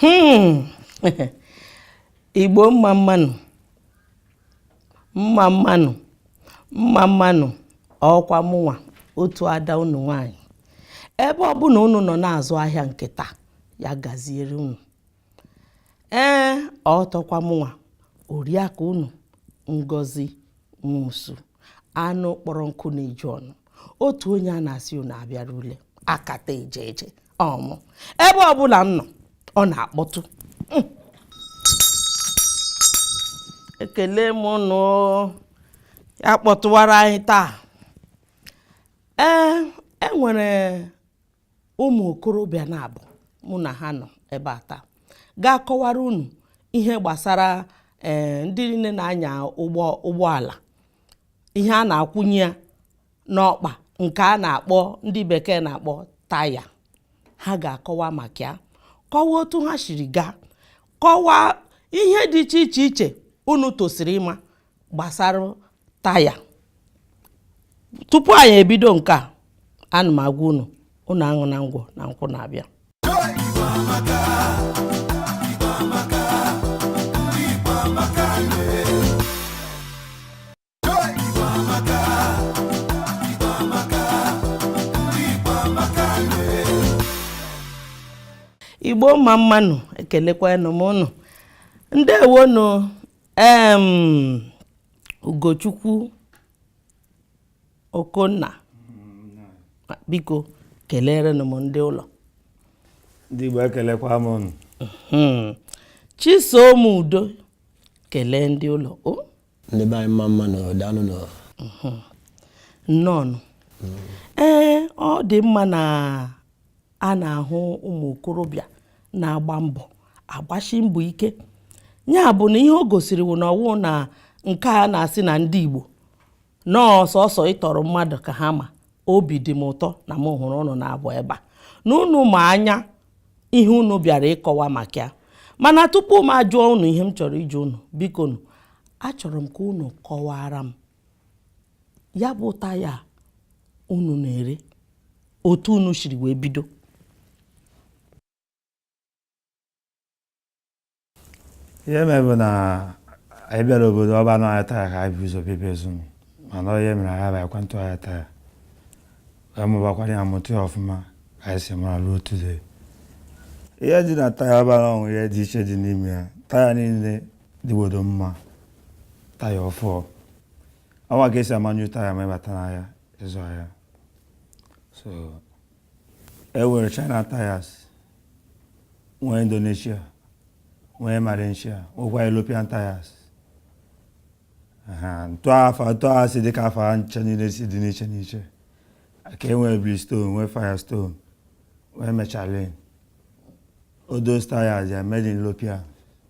Hmm. igbo mma mmanụ mma mmanụ mma mmanụ ọkwa mụnwa otu ada unu nwanyị ebe ọbụla unu nọ na-azụ ahịa nke taa ya gaziere unu ee ọtọkwa mụnwa oriakụ unu ngozi nwosu anụ kpọrọ nkụ na-eju ọnụ otu onye a na-asị unu abịara ule akata eje eje ọmụ ebe ọbụla m nọ ọ na-akpọtụ hmm. ekele m nụ ya kpọtụwara anyị taa ee enwere ụmụ okorobịa naabọ mụ na ha nọ ebe a taa ga-akọwara unu ihe gbasara eh, ndị niile na-anya ụgbọ ụgbọala ihe a na-akwụnye ya n'ọkpa nke a na-akpọ ndị bekee na-akpọ taya ha ga-akọwa maka ya kọwaa otu ha siri gaa kọwaa ihe dị iche iche iche unu tosiri ịma gbasara taya tupu anyị ebido nke a ana m agwa unu unu aṅụna ngwọ na nkwụ na-abịa igbo mma mmanụ ekelekwanụ m unu ndewonụ um ugochukwu okonna biko kelerenụ m ndị ụlọ ndị igbo ekelekwa m unu hmm. chisom udo kelee ndị ụlọ o ndị be anyị mma mmanụ daalụnụ hmm. nnọọnụ ee ọ dị mma na a na-ahụ ụmụ okorobịa na-agba mbọ agbashi mbọ ike ya bụ na ihe o gosiri wụ na ọwụ na nke a na-asị na ndị Igbo na ọ sọsọ ịtọrọ mmadụ ka ha ma obi dị m ụtọ na m hụrụ unu naabọ ebe a na unu ma anya ihe unu bịara ịkọwa maka ya mana tupu m ajụọ unu ihe m chọrọ ịjụ unu bikonụ achọrọ m ka unu kọwara m ya bụ taya unu na-ere otu unu siri wee bido ihe mere bụ na anyị bịara obodo ọba n'ahịa taya ka anyị bu ụzọ bebe ezumi mana ihe mere anyị bụ ekwentị ahịa taya wee mụbakwara ya mụta ya ọfụma ka anyị si mara ruo today ihe dị na taya ọba na ọnwụ ihe dị iche dị n'ime ya taya niile dịgbodo mma taya ọfụụ awa ka esi ama new taya ma ịbata n'ahịa ịzụ ahịa so e nwere china tires nwee indonesia nwee malaysia nwekwa european tires etu afa etu aha si dịka afa ncha niile si dị n'iche n'iche ka e nwee bridgestone nwee firestone nwee michelin all those tires are made in european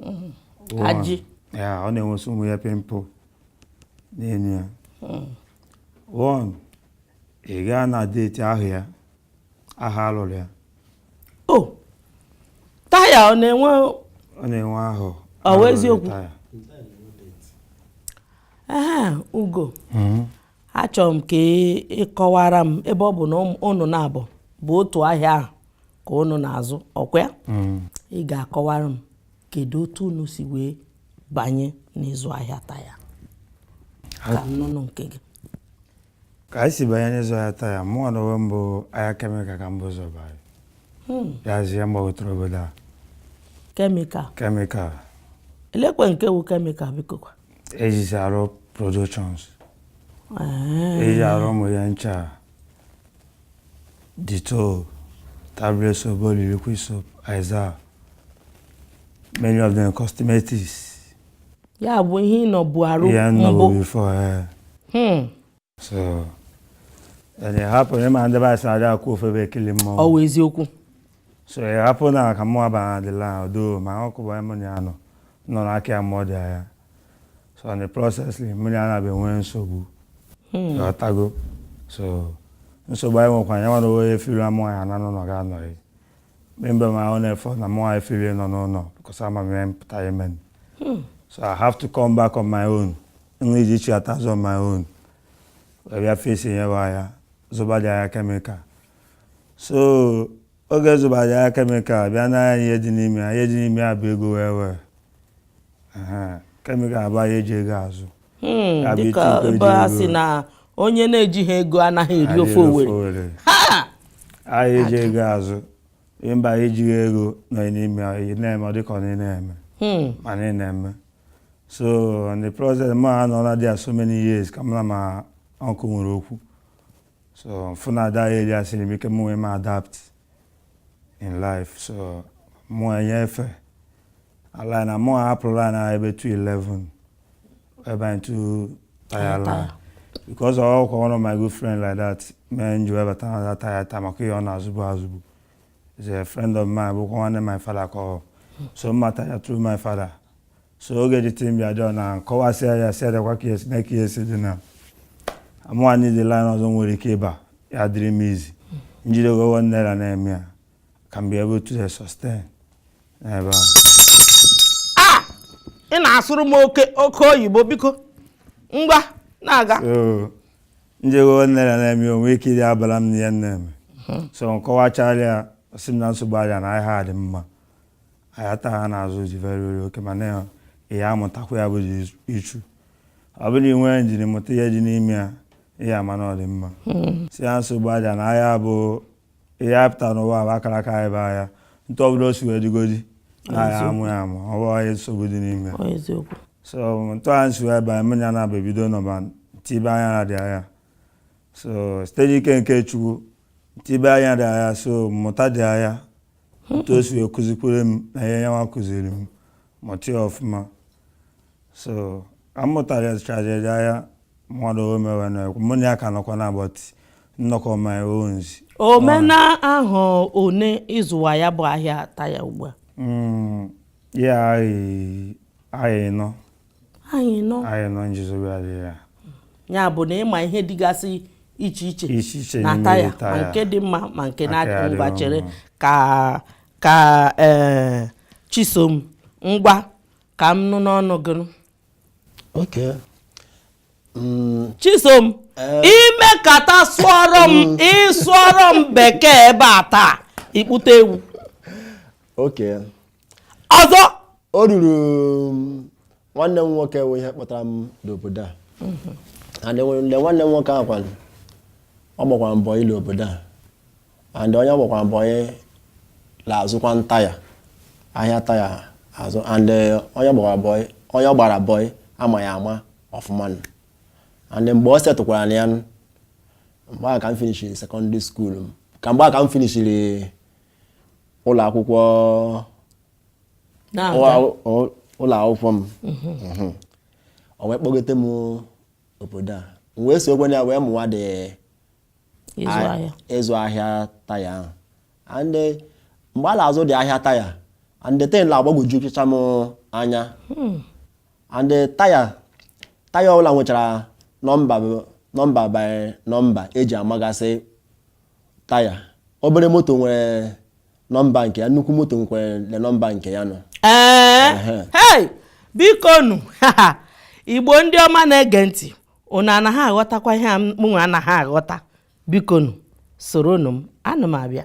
mm-hmm. ajị ya ọ na-enwesị ụmụ ihe pimple n'elu ya mm. one ị gaa na date ahụ ya ahọ alụrụ ya o oh! taya ọ na-enwe ọ na-enwe ahụ ọ wụ eziokwu ugo mm-hmm. achọrọ m ka ị kọwara m ebe ọ bụ na unu naabọ bụ otu ahịa ahụ ka unu na-azụ ọkwa ya mm. ị ga-akọwara m kedu otu unu si wee banye n'ịzụ ahịa taya ka m nụnụ nke gị ka anyị si banye n'ịzụ ahịa taya mụnwa na onwe m bụ ahịa kemikal ka m bu ụzọ banye hmm. ya zi ya m gbagotere obodo a kemikal kemikal elekwe nke wụ kemikal biko kwa ejizi arụ productions eji arụ ụmụ ihe ncha Dettol, tablet soap, body liquid soap, Izal, many of them cosmetics. Ya bụ ihe ị nọbu arụ mbụ. Ya nọbu before. Eh. Hmm. So, it happen na ị ma ndị be anyị sị adị akwụ ofu ebe ekili mmụọ. Ọ wụ eziokwu. So, it happen na ka mụ abana the land although my uncle bụ mụ na ya nọ nọ n'aka ya mụọ dị ahịa. so in the process mụ na ya bịa nwee nsogbu hmm. ị ghọtago so nsogbu anyị nwekwa ya nwa onwe ya feel na mụ ya na n'ụlọ ga anọghị maybe my own effort na mụ anyị feel ịnọ n'ụlọ because ama m ihe m pụta ime hmm. so I have to come back on my own nri ji chi atazụ on my own wee bịa face nyewe ya zụba dị ahịa kemikal so oge zụba ahịa kemikal bịa na ihe dị n'ime ya ihe dị n'ime ya bụ ego wee wee kemikal bụ ahịa eji ego azụ hmm, dịka ebe a sị na onye na-ejighị ego anaghị eri ofe owere ahịa eji ego azụ mba ejighị ego nọ n'ime ya na-eme ọ dịka ọ na-eme hmm. ma na-eme so in the process mụ anọla there so many years ka mụ na my uncle nwere okwu so fụ na that area siri m ike m wee m adapt in life so mụ enyefe line a mụ ahapụ line a ebe 211 wee ba into taya line because ọ wụkwa one of my good friend like that mee m ji wee bata na taya taa maka ihe ọ na-azụbu azụbu is a friend of mine bụkwa nwanne my father ka ọ so m mata ya through my father so oge the thing bịaduo na kọwasịa ya sị adịkwa ka esi na ka esi dị na amụwa ndị dị line ọzọ nwere ike ịba ya dịrị m easy njide gogo naira na-eme ya ka m be able to sustain n'ebe ahụ ah! ị na-asụrụ m oke oke oyibo biko ngwa na-aga njego nne na na-eme o nwee ike ịdabala m na ihe m na-eme so nkọwachala ya sị m na nsogbu adịa na ahịa dị mma ahịa taya a na-azụ dị very okay mana ịmụtakwa ya bụ issue ọ bụrụ i nwee ndidi mụta ihe dị n'ime ya ị ya-ama na ọ dị mma hmm. sị ya nsogbu adịa na ahịa bụ ihe a pụtara n'ụwa bụ akara aka anyị bụ ahịa etu ọbụla o si wee dịgodi na ahịa amụ ya amụ ọ bụ ihe nsogbu dị n'ime so etu anyị si wee banye mmiri ya na-aba ebido nọba tibe anya na the ahịa so site n'ike nke chukwu tibe anya the ahịa so mụta the ahịa otu o si wee kuzikwere m na ihe yanwa kụziri m mụta ya ọfụma so ka m mụtara strategy ahịa mmadụ o mewe na ekwu mụ na ya ka nọkwa na but nnọkọ my own omena ahụ one ịzụwa ya bụ ahịa taya ugbu a Mm, ya anyị anyị nọ anyị nọ anyị nọ nsogbu adịghị ya ya bụ na ị ma ihe dịgasị iche iche na taya ma nke dị mma ma nke na-adịghị ngwa chere ka ka eh, chisom ngwa ka m nụ n'ọnụ gị Mm. chisom eh. i mekata sụọrọ m mm. ị sụọrọ m bekee ebe a taa ị kpụta ewu okay ọzọ o ruru um, nwanne m nwoke wụ ihe kpọtara m n'obodo a mm-hmm. and nwanne m nwoke ahụ kwanụ ọ gbakwara bọị la obodo a and onye ọ gbakwara bọị na-azụkwanụ taya ahịa taya azụ and eh, onye gbara bọị onye ọ gbara bọị ama ya ama ọfụma and mgbe ọ setụkwaranụ ya mgbe a ka m finishiri secondary school m ka mgbe a ka m finishiri ụlọ akwụkwọ ụlọ akwụkwọ m mhm. o wee kpọgote m obodo a m wee sokwanụ ya wee mụwa the ịzụ ahịa taya ahụ and eh, mgbe a na-azụ the ahịa taya and the thing na-agbagwojucha m anya hmm. and eh, taya taya ọbụla nwechara nọmba nọmba by nọmba eji amagasị taya obere moto nwere nọmba nke ya nnukwu moto nwekwere nọmba nke ya nọ ee eh, hey bikonụ igbo ndị ọma na-ege ntị unu anaghị aghọtakwa ihe a mụnwa anaghị aghọta bikonụ soronụ m ana m abịa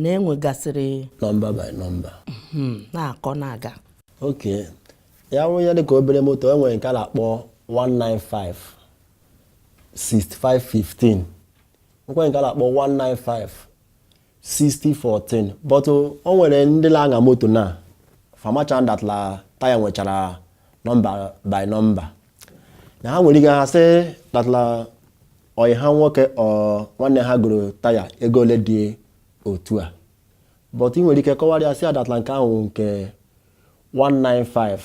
na enwegasịrị nọmba by nọmba hmm, na-akọ na-aga okay ya wụ ya dịka obere moto e nwere nke a na-akpọ 195 6515 nwekwa nke a na-akpọ 195 6014 but o nwere ndị na-aṅa moto na fa amacha that la taya nwechara nọmba by nọmba na ha nwere ike ha sị that la ọyị ha nwoke or nwanne ha goro taya ego ole dị otu a but ị nwere ike kọwara ya sị that la nke ahụ nke 195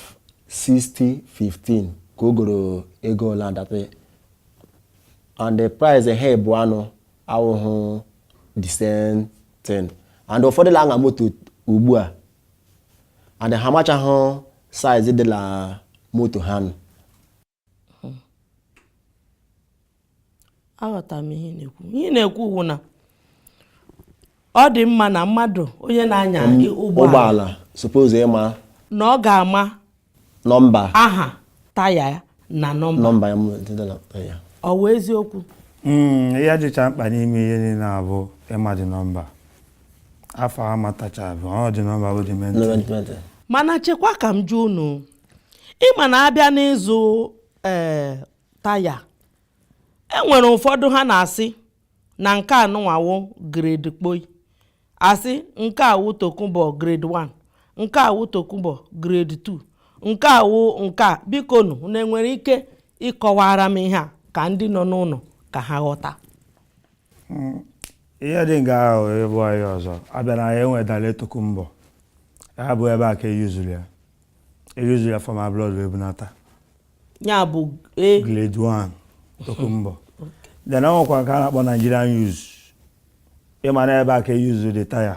60 15 ka o goro ego ole that and the price ha ebu anụ awụhụ the same thing and ụfọdụ la-aṅa moto ugbu a and ha amachahụ size dị la moto ha nụ hmm. aghọtara m ihe ị na-ekwu ihe ị na-ekwu wụ na ọ dị mma na mmadụ onye na-anya ụgbọala suppose ịma na ọ ga-ama nọmba aha taya ya na nọmba ya ọ wụ eziokwu hmm, ihe dịcha mkpa n'ime ihe niile a bụ ịma the nọmba afa amatachabe ọ the nọmba bụ the main thing mana chekwa ka m jụọ unu ị ma na a bịa n'ịzụ ee eh, taya e nwere ụfọdụ ha na-asị na nke a nụnwa wụ grade kpoi a sị nke a wụ tokunbo grade 1 nke a wụ tokunbo grade 2 nke a wụ nke a biko nụ na enwere ike ịkọwara m ihe a ka ndị nọ n'ụlọ ka ha ghọta hmm, ihe dị nga ahụ ebe anyị ọzọ a bịa na ya e nwee direct tokunbo ya bụ ebe a ka e use-ru ya E use-ru ya from abroad wee bunata. Ya bụ e. Grade 1 Tokunbo. Then o nwekwa nke a na-akpọ Nigerian use. Ị ma na ebe a ka e use-ru the taya.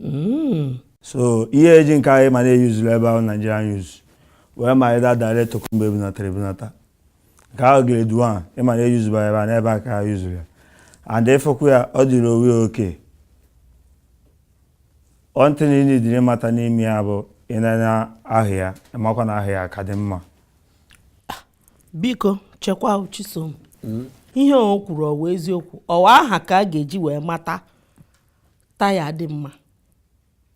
Hmm. So ihe e ji nke a ị ma na e use-ru ebe a bụ Nigerian use wee ma ịda direct Tokunbo e bunatara ebunata. Nke ahụ grade 1 ị ma na e use-ba ebe a n'ebe a ka ha use-ru ya. And ị fụkwa ya ọ dịrị owe okay. one thing ị needịrị mata n'ime ya bụ ị nee anya ahụ ya ị makwa na ahụ ya ka dị mma biko chekwa chisom hmm? ihe o kwuru ọ wụ eziokwu ọ wụ aha ka a ga-eji wee mata taya dị mma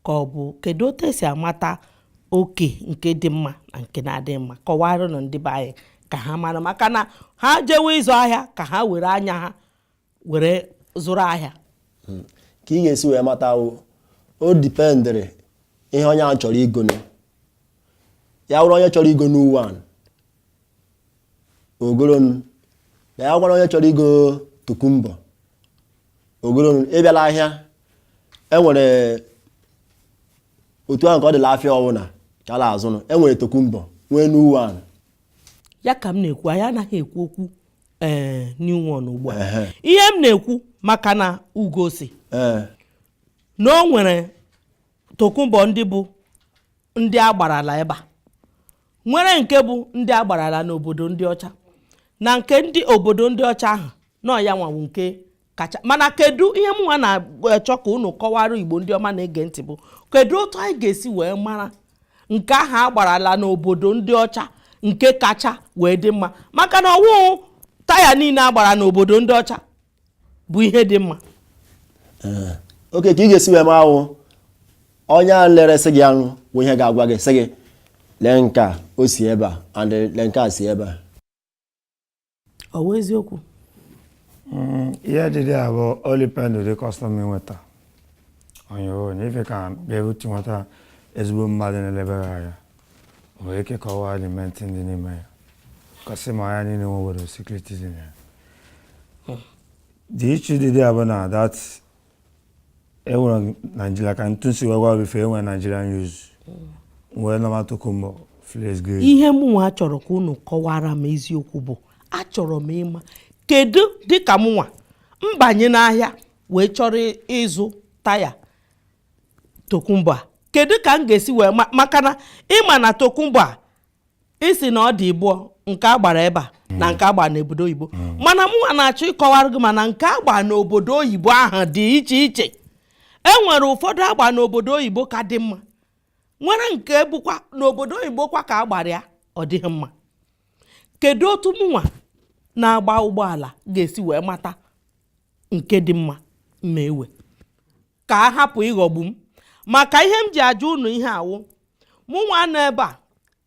ka ọ bụ kedu otu e si amata okay nke dị mma na nke na-adịghị mma kọwaranụ ndị be anyị ka ha mara maka na ha jewe ịzụ ahịa ka ha were anya ha were zụrụ ahịa hmm. ka ị ga-esi wee mata o dipendịrị ihe onye ahụ chọrọ igonụ ya wụrụ onye chọrọ igo new one o golonụ ya wụkwanụ onye chọrọ igo tokumbo o golonụ ị bịa la ahịa enwere otu ahụ ka ọ dị la afịa ọ wụ na ka a la-azụnụ enwere tokumbo nwee new one ya ka m na-ekwu anyị anaghị ekwu okwu ee eh, new one ugbu a ihe m na-ekwu maka na Ugo sị eh. na o nwere tokunbo ndị bụ ndị a gbarala ebe a nwere nke bụ ndị a gbarala n'obodo ndị ọcha na nke ndị obodo ndị ọcha ahụ na ọ yanwa wụ nke kacha mana kedu ihe mụnwa na-achọ ka unu kọwara igbo ndị ọma na-ege ntị bụ kedu otu anyị ga-esi wee mara nke ahụ a gbarala n'obodo ndị ọcha nke kacha wee dị mma maka na ọ wụ taya niile a gbara n'obodo ndị ọcha bụ ihe dị mma eh, okay ka ị ga-esi wee mara wụ onye a la-eresị gị ya nụ bụ ihe ga-agwa gị sị gị lee nke a o si ebe a and lee nke a si ebe a ọ bụ eziokwu mm, ihe dị there bụ o depend ụdị kọstọma ị nweta onye ọ na ife ka bịarute nweta ezigbo mmadụ na-elebere anya nwere ike kọwaa element dị n'ime ya ka e si ama ya niile nwe obere secret dị na ya the issue dị there bụ na that enwere naijiria ka etu m si wee gwa before enwere naijiria used nwee normal tokumbo first grade ihe mụnwa chọrọ ka unu kọwara m eziokwu bụ achọrọ m ịma kedu dịka mụnwa mbanye n'ahịa wee chọrọ ịzụ taya tokumbo a kedu ka m ga-esi wee ma maka na ị ma na tokumbo a ị sị na ọ dị ibụọ nke a gbara ebe a na nke a gbara n'obodo oyibo mana mụnwa na-achọ ịkọwara gị mana nke a gbara n'obodo oyibo ahụ dị iche iche e nwere ụfọdụ a gba n'obodo oyibo ka dị mma nwere nke bụkwa n'obodo oyibo kwa ka a gbara ya ọ dịghị mma kedu otu mụnwa na-agba ụgbọala ga-esi wee mata nke dị mma ma ewe ka a hapụ ịghọgbu m maka ihe m ji ajụ unu ihe a wụ mụnwa nọ ebe a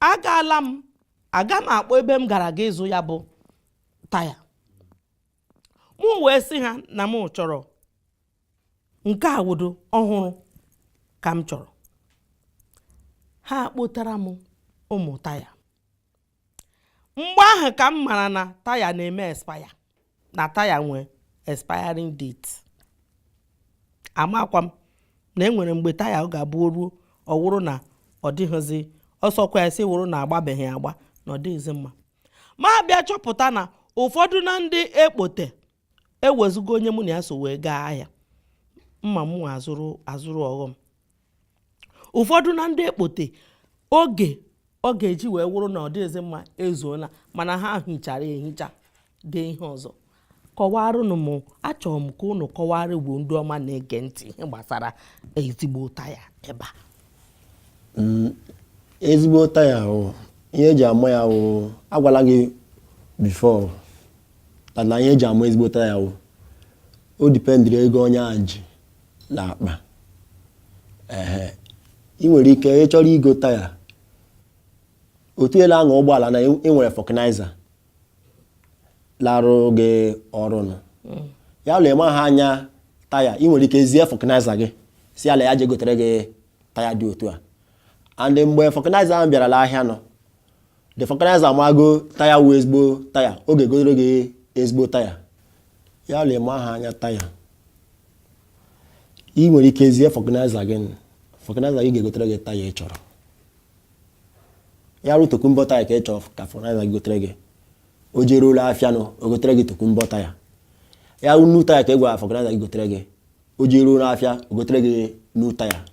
agaala m aga m akpọ ebe m gara ga ịzụ ya bụ taya mụ wee sị ha na m chọrọ nke a wụdo ọhụrụ ka m chọrọ ha kpotara m ụmụ taya mgbe ahụ ka m mara na taya na-eme expire na taya nwee expiring date amakwa m na enwere mgbe taya ọ ga-abụ o ruo ọ wụrụ na ọ dịghịzi ọ sọkwa ya sị wụrụ na a gbabeghị agba na ọ dịghịzi mma m abịa chọpụta na ụfọdụ na ndị ekpote e wezụga onye mụ na ya so wee gaa ahịa mma mụ azụrụ ọghọm ụfọdụ na ndị ekpote oge ọ ga-eji wee wụrụ na ọ dịghịzi mma ezuola mana ha hichara ehicha dee ihe ọzọ kọwarụnụ m achọrọ m ka unu kọwara igbo ndị ọma na-ege ntị ihe gbasara ezigbo taya ebe a mm, ezigbo taya ihe eji ama ya agwala gị before mana ihe eji ama ezigbo taya wụ o dependịrị ego onye ahụ ji na akpa ehe ị nwere ike ị chọrọ igo taya otu ị la-aṅa ụgbọala na ị nwere vulcanizer la-arụ gị ọrụ nụ mm. ya wụ la ị maha anya taya ị nwere ike zie vulcanizer gị sị ya la ya je gotere gị taya dị otu a and mgbe vulcanizer ahụ bịara la ahịa nụ the vulcanizer amago taya wụ ezigbo taya ọ ga-egotere gị ezigbo taya ya wụ la ị maha anya taya ị nwere ike zie vulcanizer gị vulcanizer gị ga-egotere gị taya ị chọrọ ya wụrụ tokunbo taya ka ị chọrọ ka vulcanizer gị gotere gị o jeruo la afịa nụ o gotere gị tokunbo taya ya wụrụ new taya ka ị gwara vulcanizer gị gotere gị o jeruo n'afịa o gotere gị new taya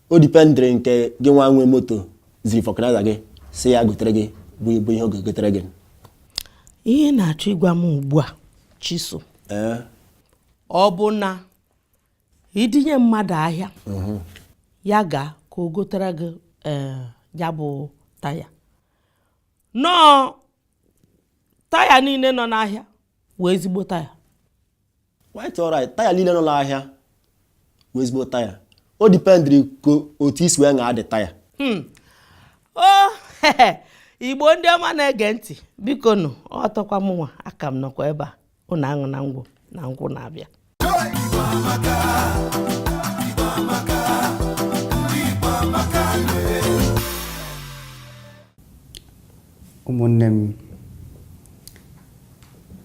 o dependịrị nke gị nwa nwe moto ziri vulcanizer gị sị ya gotere gị bụ bụ ihe ọ ga-egotere gị ihe ị na-achọ ịgwa m ugbu a chiso ee ọ bụ na i dunye mmadụ ahịa ya gaa ka o gotere gị ee, ya bụ taya no taya niile nọ n'ahịa wụ ezigbo taya quite alright taya niile nọ n'ahịa wụ ezigbo taya o dependịrị ka otu i si wee ṅaa the taya hmm. o igbo ndị ọma na-ege ntị biko nụ ọtọkwa mụnwa aka m nọkwa ebe a ụnụ aṅụna ngwọ na nkwụ na-abịa ụmụnne m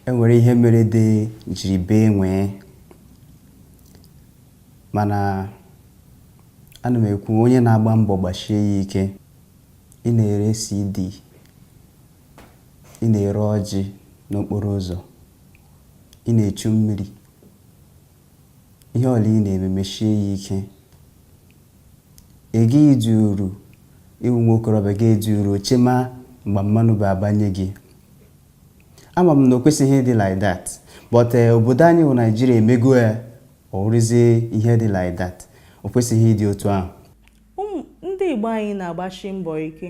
enwere ihe mere ede jiri bee nwee mana ana m ekwu onye na-agba mbọ gbashie ya ike ị na-ere CD ị na-ere ọjị n'okporo ụzọ ị na-echu mmiri Ihe ọ wụla ị na-eme meshie ya ike. Ị gaghị dị uru ịwụ nwa okorobịa gị dị uru chema mgbe mmanụ bụ abanye gị. Ama m na o kwesịghị ịdị like that but eh, obodo anyị bụ Naijiria emego ya ọ wụrụzie ihe dị like that o kwesịghị ịdị otu ahụ. Ndị Igbo anyị na-agbashi mbọ ike.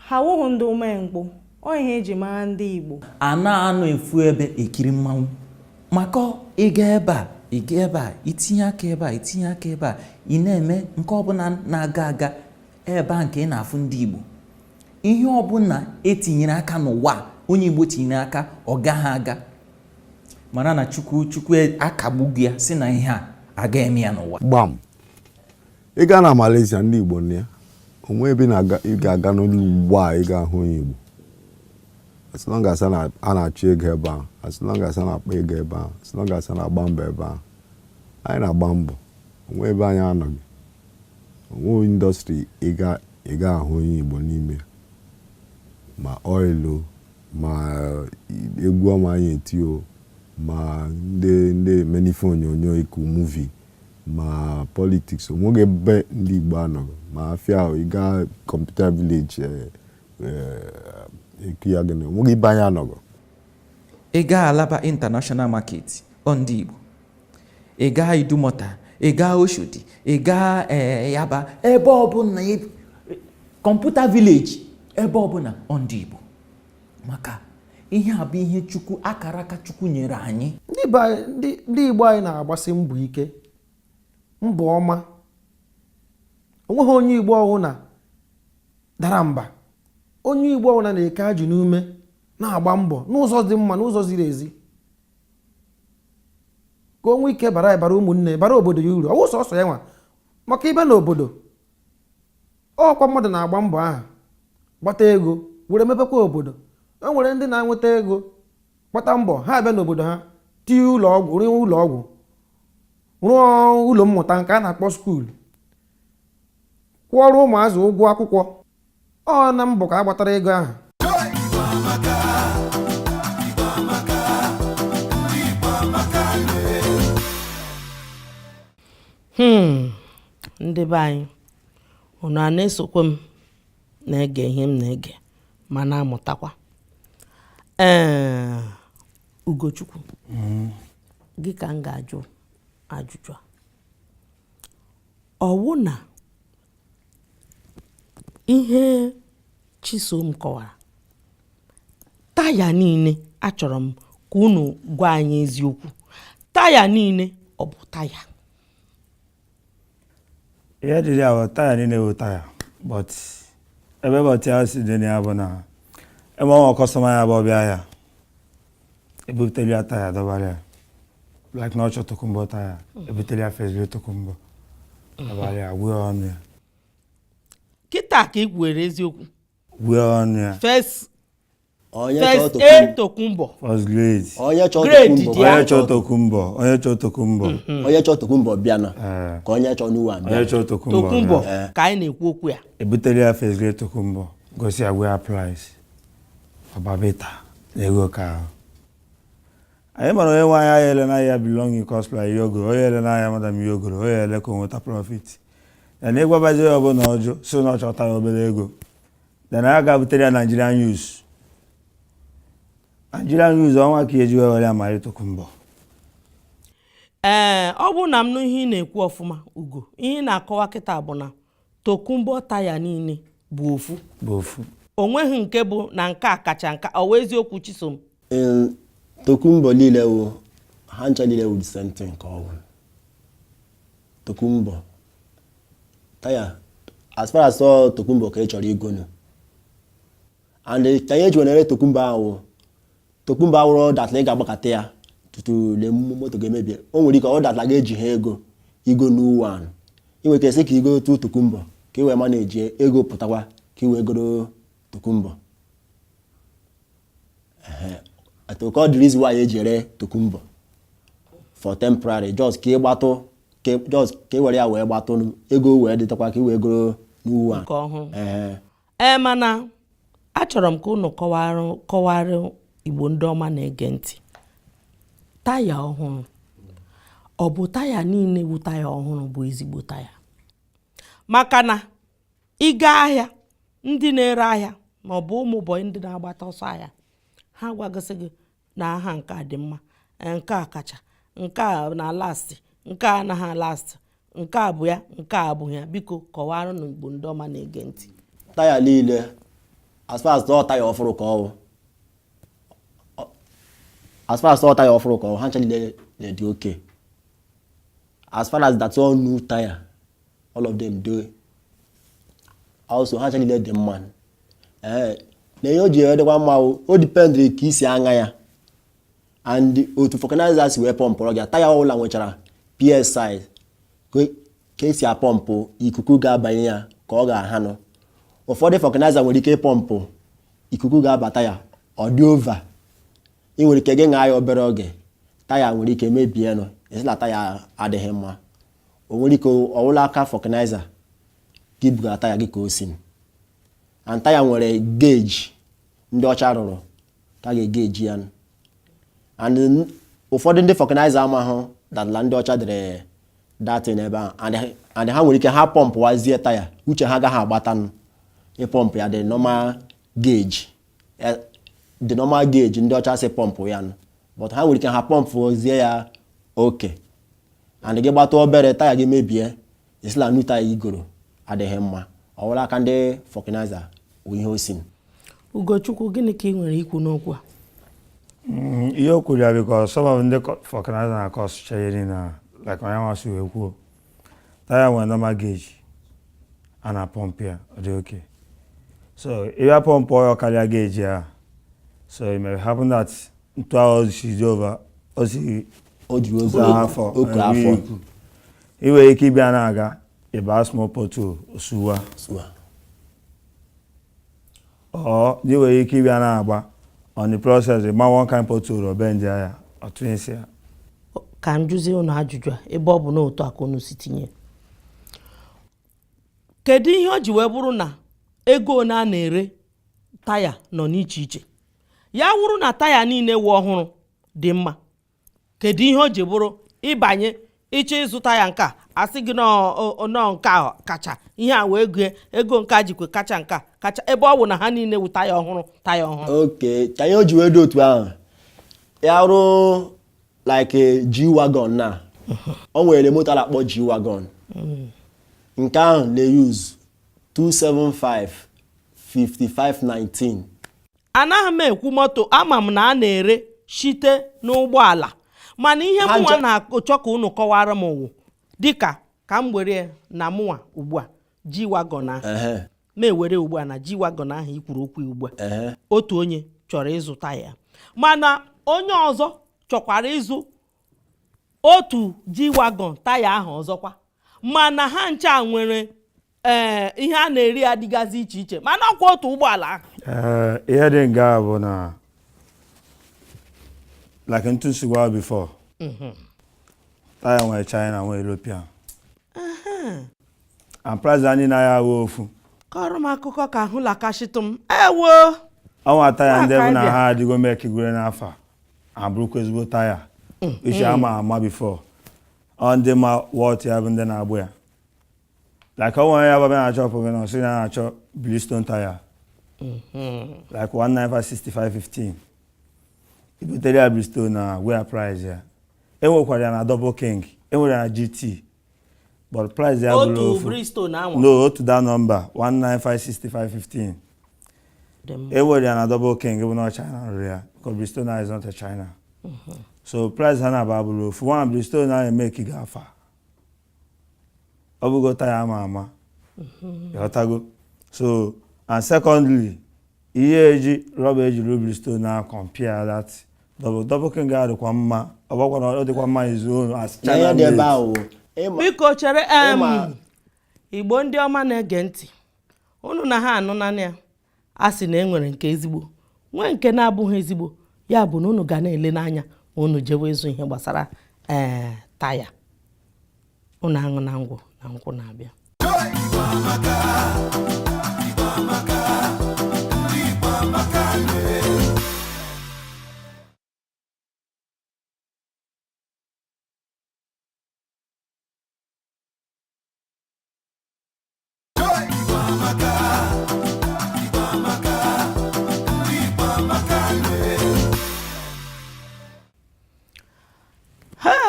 Ha wụghị ndị umengwụ, ọ ihe eji mara ndị Igbo. A na-anọ ofu ebe ekiri mmanwụ maka ịga ebe a ịga ebe a itinye aka ebe a itinye aka ebe a ị na-eme nke ọbụla na-aga aga ebe a nke ị na-afụ ndị Igbo ihe ọbụla etinyere aka n'ụwa onye Igbo tinyere aka ọ gaghị aga mara na Chukwu Chukwu e, akagbugo ya sị na ihe a aga eme ya n'ụwa gbam ị gaa na Malaysia ndị Igbo nọ ya onwe ebe ị ga-aga n'elu ụwa ị ga-ahụ onye Igbo as long as a na-achụ ego ebe ahụ as long as a na-akpa ego ebe ahụ as long as a na-agba mbọ ebe ahụ anyị na-agba mbọ onwe ebe anyị anọghị onwe industry ị ga-ahụ onye Igbo n'ime ma oil ma egwu ọma anyị eti o ma ndị ndị eme ife onyonyo eku movie ma politics onweghị ebe ndị Igbo anọghị ma afịa ahụ ị gaa computer village eku ya gịnị onweghị ebe anyị anọghị ị gaa alaba international market ọ ndị Igbo ị gaa idumọta ị gaa oshodi ị gaa eh, yaba ebe ọbụla computer village ebe ọbụla ọ ndị Igbo maka ihe a bụ ihe chukwu akara aka chukwu nyere anyị ndị igbo anyị na-agbasi mbọ ike mbọ ọma onweghị onye igbo ọwụna dara mba onye igbo ọwụna na-eke ajị n'ume na-agba mbọ n'ụzọ dị mma n'ụzọ ziri ezi ka o nwee ike bara bara ụmụnne bara obodo ya uru ọwụ sọsọ ya nwa maka ibe na obodo ọkwa mmadụ na-agba mbọ ahụ gbata ego were mepekwa obodo o nwere ndị na-enweta ego gbata mbọ ha abịa n'obodo ha tie ụlọ ọgwụ rụọ ụlọ ọgwụ rụọ ụlọ mmụta nke a na-akpọ skuulu kwụọrọ ụmụazị ụgwọ akwụkwọ ọ na mbọ ka a gbatara ego ahụ hmm ndị be anyị unu ana-esokwa m na-ege ihe m na-ege ma na-amụtakwa ee Ugochukwu hmm. gị ka m ga-ajụ ajụjụ a ọwụ na ihe Chisom kọwara taya niile achọrọ m ka unu gwa anyị eziokwu taya niile ọ bụ taya ihe dịrị ahụ taya niile bụ taya but ebe but ahụ si dị na ya bụ na ebe ọnwa customer ya bụ ọbịa ya ebutelu ya taya dọbara ya like na ọ chọ tokumbo taya ebutelu ya first grade tokumbo dọbara ya gwee ọnụ ya kịta ka ị gwere eziokwu gwee ọnụ ya first onye chọọ first a tokumbo tokumbo first grade onye chọọ Grade tokumbo dị ya. onye chọ tokumbo onye chọ tokumbo onye chọọ tokumbo bịa na Ee. ka onye chọọ new one bịa onye chọ tokumbo tokumbo na- ka anyị na-ekwu okwu ya ebutelu ya first grade tokumbo gosi ya gwee ya price ọbabịta na ego ka ahụ anyị mara onye nwe ya anaghị ele na ya below cost price ihe o goro ọ ya-ele na ya more than ihe o goro ọ ya-ele ka o nweta profit then ị gwabazi onye ọbụla ọ jụ sị na ọ chọ taya obere ego then ya ga-ebutere ya Nigerian used Nigerian used ọ nwa ka eji wee were ama tokumbo ee ọ bụrụ na m nụ ihe ị na-ekwu ọfụma Ugo ihe ị na-akọwa kịta bụ na Tokumbo taya niile bụ ofu o nweghị nke bụ na nke a kacha nke a ọ wụ eziokwu Chisom Ee, tokumbo niile wụ ha ncha niile wụ the same thing ka ọ wụ tokumbo taya as far as ọ tokumbo ka ị chọrọ igo nụ and ka ihe eji were ere tokumbo ahụ wụ Tokumbo a wụrụ that la ị ga-agbakọta ya tutu le moto ga-emebie o nwere ike ọ that la ejiha ego igo new one nụ ị nwere ike sị ka ị gotụ Tokumbo ka ị wee manage ego pụtakwa ka ị wee goro Tokumbo atụkọ the reason why eji ere Tokumbo for temporary just ka ị gbatụ just ka ị were ya wee gbatụ ego wee dịtakwa ka ị wee goro new one nụ. Nke ọhụrụ. Ee. ee mana achọrọ m ka unu kọwara Igbo ndị ọma na-ege ntị taya ọhụrụ ọ bụ taya niile bụ taya ọhụrụ bụ ezigbo taya maka na ị gaa ahịa ndị na-ere ahịa ma ọ bụ ụmụ bọyị ndị na-agbata ọsọ ahịa ha gwagosị gị na ah nke a dị mma eh, nke a kacha nke a na-alasti nke a anaghị alasti nke a bụ ya nke a abụghị ya biko kọwaranụ Igbo ndị ọma na-ege ntị taya niile as far as ọ taya ọfụrụ ka ọ wụ as far as ọ taya ọfụrụ ka ọ wụ ha ncha niile na-adị okay as far as that ọ new taya all of them do also ha ncha niile dị mma ee na ihe o ji adịkwa mma o dipendịrị ka ị si aṅa ya and otu vulcanizer si wee pọmpụrụ gị taya ọbụla nwechara PSI ka esi apọmpụ ikuku ga-abanye ya ka ọ ga-aha nụ ụfọdụ vulcanizer nwere ike ịpọmpụ ikuku ga-abata ya ọ dị over ị nwere ike gị ṅaa ya obere oge taya nwere ike mebie nụ a sị na taya adịghị mma o nwere ike ọ wụ la aka vulcanizer gị bugara taya gị ka o si and taya nwere gauge ndị ọcha rụrụ ka a ga-egeji ya and ụfọdụ ndị vulcanizer amahụda la ndị ọcha dere that thing ebe ahụ and ha nwere ike ha pọmpụwazie taya uche ha agaghị agbatanụ ịpọmpụ ya the normal gauge e, the normal gauge ndị ọcha sị pọmpụ ya nụ but ha nwere ike ha pọmpụọzie ya oke and gị gbata obere taya gị mebie ị sị la new taya i goro adịghị mma ọ wụ la aka ndị vulcanizer ihe o si Ugochukwu gịnị ka ị nwere ikwu n'okwu a mm, ihe o kwuru ya because some of ndị vulcanizer na-akọsụcha ihe niile a like onye nwa si wee kwuo taya nwere normal gauge a na-apọmpụ ya ọ dị okay so ị bịa pọmpụọ ya karịa gauge a so it may happen that ntu ahụ o si dị over o si o ji ozu Otu afọ, oke nri afọ ukwu. i nwere ike ị bịa na-aga ị baa small pothole ọ sụwaa Sụwaa. or i nwere ike ị bịa na-agba on the process ị gbaa one kind pothole ọ bendie ya ọ twistie ya ka m jụzie unu ajụjụ a ebe ọ bụ na otu a ka unu si tinye kedu ihe o ji wee bụrụ na ego ole a na-ere taya nọ n'iche iche ya wụrụ na taya niile wụ ọhụrụ dị mma kedu ihe o ji bụrụ ị banye ịchọ ịzụ taya nke a a sị gị no nke a kacha ihe a wee gụọ ego nke a jikwa kacha nke a kacha ebe ọ bụ na ha niile wụ taya ọhụrụ taya ọhụrụ okay ka ihe o ji wee dị otu ahụ ya rụ like G wagon na o nwere moto a na-akpọ G wagon mm. nke ahụ na-use 275 5519 anaghị m ekwu moto ama m na a na-ere shite n'ụgbọala mana ihe mụnwa na-achọ ka unu kọwara m wụ dịka ka m were na mụnwa ugbu a G wagon ahụ Ehe, ma e were ugbu a na G wagon ahụ i kwuru okwu ya ugbu a ehe. otu onye chọrọ ịzụ taya mana onye ọzọ chọkwara ịzụ otu G wagon taya ahụ ọzọkwa mana ha ncha nwere ee ihe a na-ere ya dịgazi iche iche mana ọkwa otu ụgbọala ahụ ee ihe dị nga bụ na like ntu m si gwa before mhm. taya nwere China nwee European and price ha niile awụ ofu kọọrọ m akụkọ ka ahụ lakashitụ m ewo o nwee taya ndị bụ na ha adịgo mee kigwere n'afọ a bụrụkwa ezigbo taya mm. iche ama ama before ọ ndị ma worth ya bụ ndị na-agba ya like onye baba na shọpụ gị na ọ sị ya na-achọ Bridgestone taya like 1956515 ibutere ya Bridgestone nwere price ya enwekwara ya na double king enwere ya na GT but price ya abụrọ otu ofu Bridgestone anwa na otu that nọmba 1956515 dị mma enwere ya na double king bụ na China rụrụ ya because Bridgestone is not a China so price ha naabọ abụrọ ofu nwa Bridgestone na-eme ka ị ga-afa ọ bụgo taya ama ama mhm. ịghọtago so and secondly ihe eji rọba eji rụ Bridgestone na compare that double double king adịkwa mma ọ bụkwa na ọ dịkwa mma izu olu as china biko chere igbo ndị ọma na-ege ntị unu na ha anụnanụ ya a sị na e nwere nke ezigbo nwee nke na-abụghị ezigbo ya bụ na unu ga na-ele n'anya ma unu jewe ịzụ ihe gbasara ee eh, taya unu anụna ngwa na-ekwu na-abịa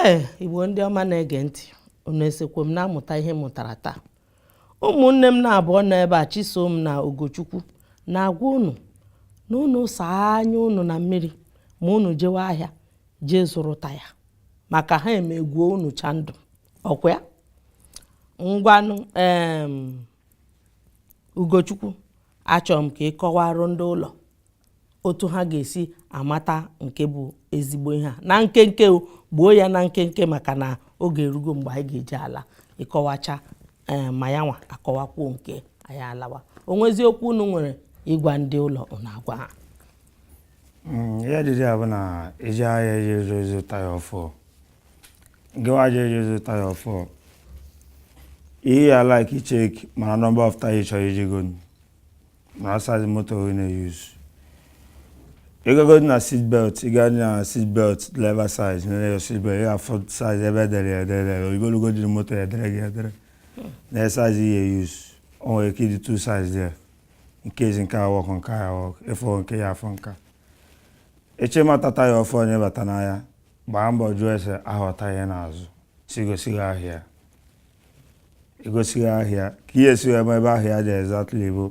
ee igbo ndị ọma na-ege ntị unu esokwa m na-amụta ihe m mụtara taa ụmụnne m na-abụọ nọ ebe a chisom na ugochukwu na-agwa unu na unu saa anya unu na mmiri ma unu jewe ahịa jee zụrụ taya maka ha emegwuo unu chandụ ọ kwa ya ngwanụ ugochukwu achọrọ m ka ị kọwarụ ndị ụlọ otu ha ga-esi amata nke bụ ezigbo ihe a na nkenke gbuo ya na nkenke maka na oge erugo mgbe anyị ga-eji ala ịkọwacha eh, ma ya nwa akọwakwuo nke anyị alawa o nwezi okwu unu nwere ịgwa ndị ụlọ na agwa ha Mm, ihe dịdị ya bụ na ije ahịa ije zụ taya ọfụụ gịwa je ije zụ taya ọfụụ ihe ị ya like check mara nọmba of taya ị chọrọ ije gonu mara size moto ị na-eyuz ị gago na seat belt ị gaa na seat belt driver side nene ya seat belt ị ya-afụ size ebe edere ya edere ogologo dị moto ya edere gị edere na size ị ya-eyuz o nwere ike ịdị two size there nke ezi nke ahụ ọkụ nke ahụ ọkụ efe nke ị ya-afụ nka eche mata taya ọfụụ onye bata n'ahịa gbaa mbọ jụọ ese aghọta ya n'azụ sị gosi gị ahịa egosi gị ahịa ka ihe si ebe ebe ahịa dị exactly bụ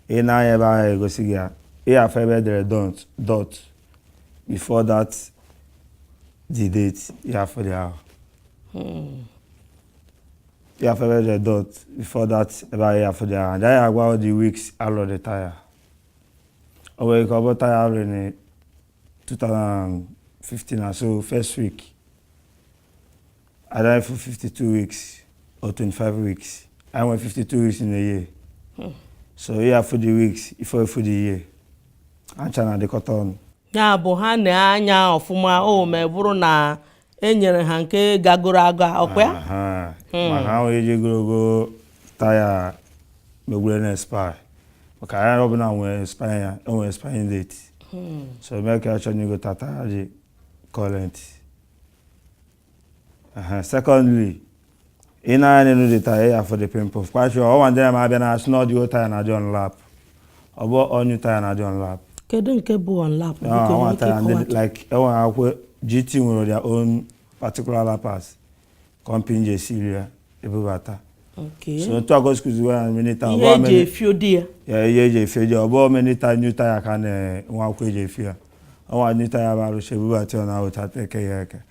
ị na-anya ebe ahịa egosi gị ya ị ya-afụ ebe edere dot dot before that the date ị ya-afụ dị ahụ ya-afụ ebe e dere dot before that ebe ị ya-afụ dot ahụ ya-agwa the weeks alụ the taya o nwere ike ọ bụ taya alụ na 2015 so first week ị ya-afụ 52 weeks or 25 weeks anyị nwere 52 weeks in a year hmm. so ị ya-afụ the weeks before ị fụ the year ha ncha na-adịkọta ọnụ ya bụ ha nee anya ọfụma o ma bụrụ na e nyere ha nke gagoro aga ọkwa ya hmm. maka ahụ eji ogologo taya megwure na expire maka ihe ọbụla nwere expire ya o nwere expiring date hmm. so mee ka ya chọrọ igo taya dị current secondly i nee anya n'elu the taya ị ya-afụ the pimple kwachio ọwa ndị na-abịa na-asị na ọ dị new taya na-adị on wrap ọ bụ all new taya na-adị on wrap kedu nke bụ on wrap o nwee taya ndị like enwere akwụkwọ GT nwere their own particular wrappers company ji esiri ya ebubata so otu agosikuziwe ya minita ihe eji efio di ya ya ihe eji efio di ya ọ bụ minita new taya ka na-enwe akwụkwọ eji efio ya o nwee new taya bụ a rụchaa ebubata ya na ahụcha teke ya eke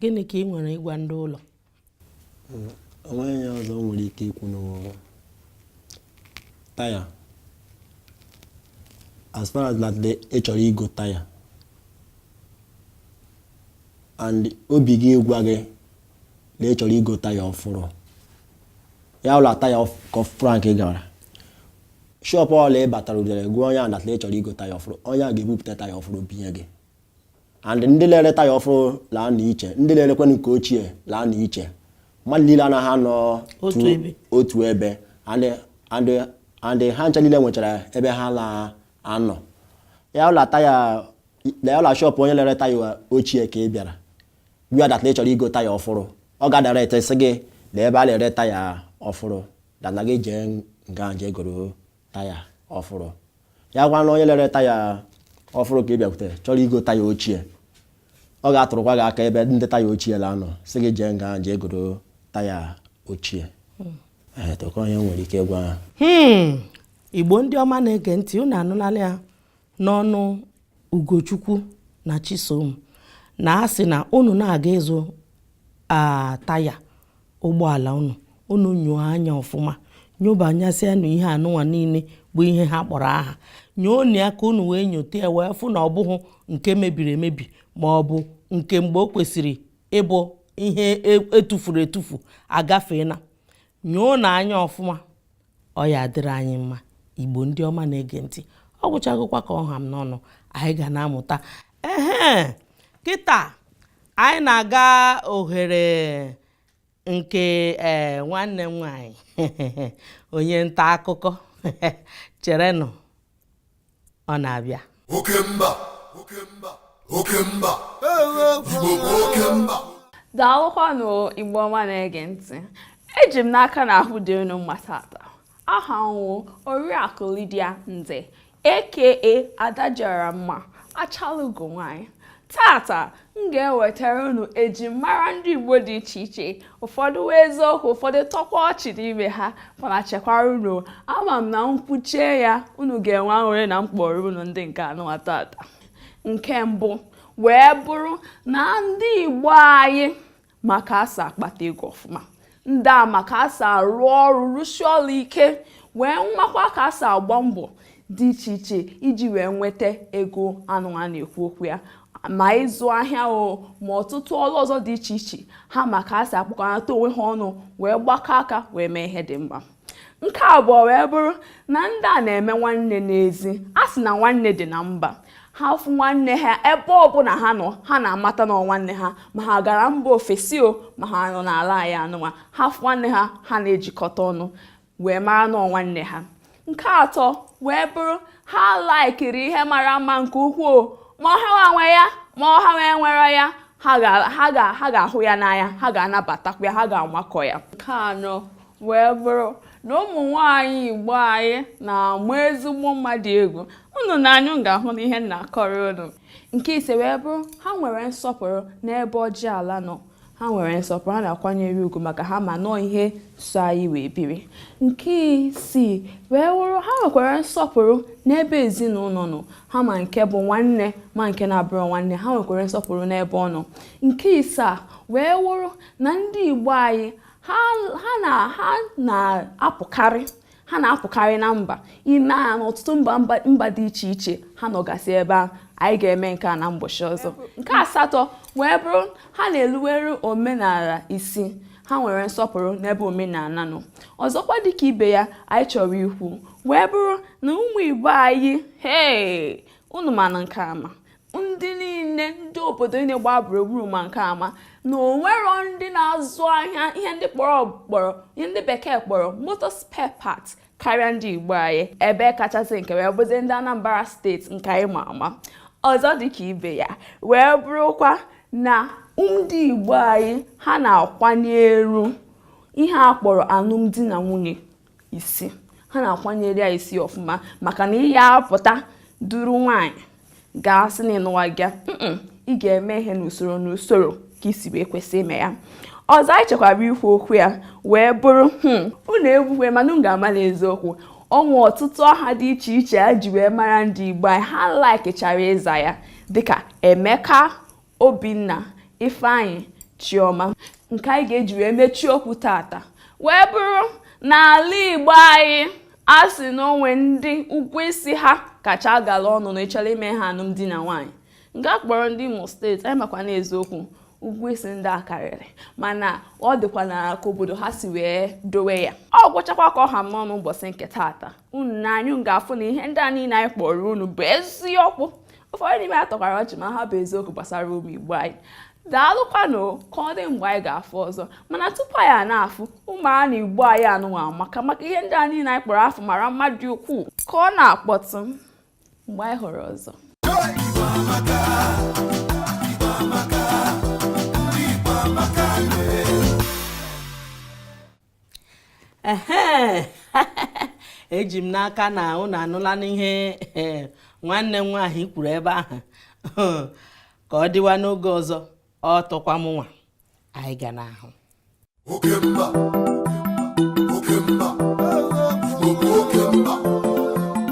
gịnị ka ị nwere ịgwa ndị ụlọ o nweghị ihe ọzọ nwere ike ikwu n'ụwa taya as far as that na ị chọrọ igo taya and obi gị gwa gị na ị chọrọ igo taya ọfụrụ ya bụrụ taya ọfụrụ ka ị gara shọpụ ọla ị batara udere gwa onye a that na ị chọrọ igo taya ọfụrụ onye a ga-ebupụta taya ọfụrụ binye gị and ndị la-ere taya ọfụrụ la-anọ iche ndị la-erekwanụ nke ochie la-anọ iche mmadụ niile anaghị anọ otu ebe and ha ncha niile nwechara ebe ha la-anọ ya bụrụ la shọpụ onye la-ere taya ochie ka ị bịara gwa that na ị chọrọ igo taya ọfụrụ ọ ga-adirect sị gị na ebe a na-ere taya ọfụrụ dana gị jee nga jee goro taya ọfụrụ ya bụkwanụ onye la-ere taya ọfụrụ ka ị bịakwute chọrọ igo taya ochie ọ ga-atụrụkwa gị aka ebe ndị taya ochie la-anọ sị gị jee nga jee goro taya ochie hmm. eh, tụkọ onye nwere ike gwa hmm. Igbo ndị ọma na-ege ntị unu anụnala ya n'ọnụ Ugochukwu na Chisom na a sị na unu na-aga ịzụ taya ụgbọala unu unu nyoo anya ọfụma nyobanyasịanụ ihe anụnwa niile bụ ihe ha kpọrọ aha nyoonụ ya ka unu wee nyote ya wee fụ na ọ bụghị nke mebiri emebi ma ọ bụ nke mgbe o kwesịrị ịbụ ihe e tufuru etufu agafeena nyoonụ anya ọfụma ọ ya adịrị anyị mma igbo ndị ọma na-ege ntị ọ gwụchagokwa ka ọ ha m n'ọnụ anyị ga na-amụta ehe kịta anyị na-aga ohere nke ee eh, nwanne m nwanyị onye nta akụkọ cherenụ ọ na-abịa oke mba oke mba oke mba igbo bụ oke mba daalụkwanụ igbo ọma na-ege ntị eji m n'aka na ahụ dị unu mma tata aha m wụ oriakụ Lydia Nze aka Adadịọramma achalugo nwanyị tata m ga-ewetara unu ejimara ndị Igbo dị iche iche ụfọdụ wụ eziokwu ụfọdụ tọkwa ọchị n'ime ha mana chekwara unu ama m na m kwuchaa ya unu ga-enwe aṅụrị na m kpọọrọ unu ndị nke anụwa tata nke mbụ wee bụrụ na ndị Igbo anyị ma ka e si akpata ego ọfụma ndị a ma ka e si arụ ọrụ rụsie ọrụ ike wee makwa ka e si agba mbọ dị iche iche iji wee nweta ego anụwa a na-ekwu okwu ya ma ịzụ ahịa o ma ọtụtụ ọrụ ọzọ dị iche iche ha ma ka e si akpọkọnata onwe ha ọnụ wee gbakọ aka wee mee ihe dị mma nke abụọ wee bụrụ na ndị a na-eme nwanne n'ezi a sị na nwanne dị na mba ha fụ nwanne ha ebe ọbụla ha nọ ha na-amata na nwanne ha ma ha gara mba ofesi o ma ha nọ n'ala anyị anụnwa ha fụ nwanne ha ha na-ejikọta ọnụ wee mara na nwanne ha nke atọ wee bụrụ ha laikiri ihe mara mma nke ukwuu ma ọ ha nwe ya ma ọ ha enwero ya ha ga-ahụ ya n'anya ha ga-anabatakwa ya ha ga-amakọ ya nke anọ wee bụrụ na ụmụ nwaanyị igbo anyị na-ama ezigbo mma dị egwu unu nee anya unu ga-ahụ na ihe m na-akọrọ unu nke ise wee bụrụ ha nwere nsọpụrụ n'ebe ọjị ala nọ ha nwere nsọpụrụ ha na-akwanyere ugwu maka ha ma na ọ ihe so anyị wee biri nke isii wee wụrụ ha nwekwara nsọpụrụ n'ebe ezinụlọ nọ ha ma nke bụ nwanne ma nke na-abụrọ nwanne ha nwekwara nsọpụrụ n'ebe ọ nọ nke isaa wee wụrụ na ndị Igbo anyị ha na-apụkarị ha na-apụkarị na mba ime a n'ọtụtụ mba mba dị iche iche ha nọgasị ebe a anyị ga-eme nke a na mbọsị ọzọ nke asatọ wee bụrụ ha na-eluwere omenala isi ha nwere nsọpụrụ n'ebe omenala nọ ọzọkwa dịka ibe ya anyị chọrọ ikwu wee bụrụ na ụmụ igbo anyị hee unu manụ nke a ama ndị niile ndị obodo niile gbaa gburugburu ma nke a ama na o nwero ndị na-azụ ahịa ihe ndị kpọrọ kpọrọ ihe ndị bekee kpọrọ motor spare parts karịa ndị Igbo anyị ebe kachasị nke wee bụzi ndị Anambra steeti nke anyị ma ama ọzọ dịka ibe ya wee bụrụkwa na ndị Igbo anyị ha na-akwanyere ihe a kpọrọ alụmdi na nwunye isi ha na-akwanyere ya isi ọfụma maka na ị ya apụta duru nwaanyị gaa sị na ịnụwa gị ị ga-eme ihe n'usoro n'usoro ka i si wee kwesị ime ya ọzọ anyị chọkwara ikwu okwu ya wee bụrụ hmm, unu egwuwe mana m ga-ama n'eziokwu o nwe ọtụtụ aha dị iche iche a ji wee mara ndị Igbo anyị ha laikichara ịza ya dịka Emeka Obinna Ifeanyị Chioma nke anyị ga-eji wee mechie okwu tata wee bụrụ n'ala Igbo anyị a sị na o nwe ndị ụgwọ isi ha kacha agala ọnụ na ị chọrọ ime ha alụmdi na nwaanyị nke a kpọrọ ndị Imo steeti anyị makwa n'eziokwu ụgwọ isi ndị a karịrị mana ọ dịkwa na ka obodo ha si wee dowe ya ọ gwụchakwa ka ọ ha m n'ọnụ ụbọchị nke tata unu na anyị ga-afụ na ihe ndị a niile anyị kọọrọ unu bụ eziokwu ụfọdụ n'ime ya tọkwara ọchị ma ha bụ eziokwu gbasara ụmụ igbo anyị daalụkwanụ ka ọ dị mgbe anyị ga-afụ ọzọ mana tupu anyị a na-afụ ụmụ a na igbo anyị anụnwa maka maka ihe ndị a niile anyị kpọrọ afa ọ mara mma dị ukwuu ka ọ na-akpọtụ mgbe anyị hụrụ ọzọ eji m n'aka na unu anụla n'ihe eh, nwanne m nwaanyị kwuru ebe ahụ ka ọ dịwa n'oge ọzọ ọ tụkwa m nwa anyị ga na-ahụ oke mba oke mba oke mba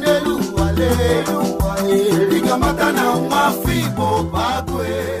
n'elu ụwa lee ụwa ee. ị ga-amata na nwa afọ igbo bụ agụ ee.